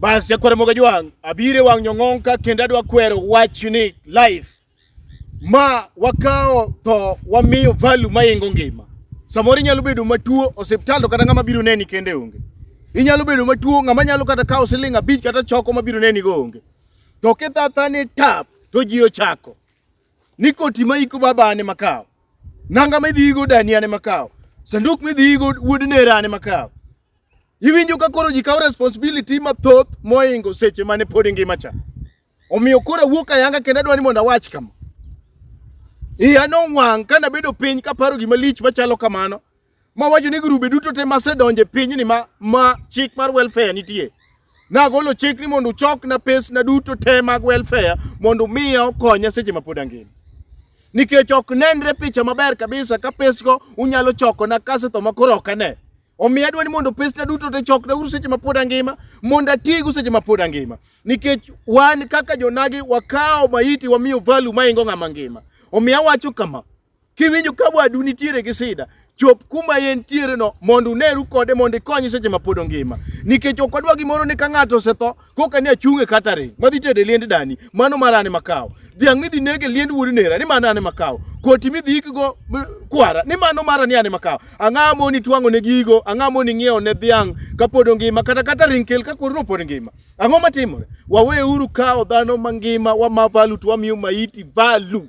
Bas jakwere moga jwang' abire wang' nyong'onka kendo adwa kwero wach ni life ma wakawo tho wamiyo value maingo ngima. Samoro inyalo bedo matuo osiptal to kata ng'ama biro neni kende onge. Inyalo bedo matuo ng'ama nyalo kata kawo siling abich kata choko mabiro neni go onge. To kithatha ni tap to ji ochako. Ni koti ma iko baba ne makawo. Nanga midhi igo dani ne makawo. Sanduk midhi igo wuod nera ne makawo. Iwinjo ka koro ji kawo responsibility mathoth moingo seche mane pod ingima cha. Omiyo koro awuok ayanga kendo adwa ni mondo awach kama. Iya nowang' ka nabedo piny kaparo gima lich machalo kamano mawacho ni grube duto te masedonje pinyni ma, ma chik mar welfare nitie nagolo chik ni mondo uchokna pesna duto te mag welfare mondo miya okonya seche mapod angima nikech ok nenre picha maber kabisa ka pesgo unyalo chokona kasetho makoro ok ane Omiyo adwa ni mondo pesna duto te chokna uru seche mapod angima mondo atigu seche mapod angima. Nikech wan kaka jonagi wakawo maiti wamiyo value maingo ng'ama ngima. Omiyo awacho kama, kiwinjo ka wadu nitiere gi sida, chop kuma en tiere no mondo uneru kode mondo ikony seche mapod ongima. Nikech ok wadwa gimoro ni ka ng'ato osetho koka ni achung' e catering madhi tedo e liend dani mano marane makawo dhiang' midhi neg e liend wuod nera ni mano ane makawo koti midhi ikgo kwara ni mano mara ni ane makawo ang'a moni twang'o ne gigo ang'a moni ng'iewo ne dhiang' kapod ongima kata catering kel ka koro pod ngima ang'o matimore waweuru kawo dhano mangima wama valu to wamiyo maiti valu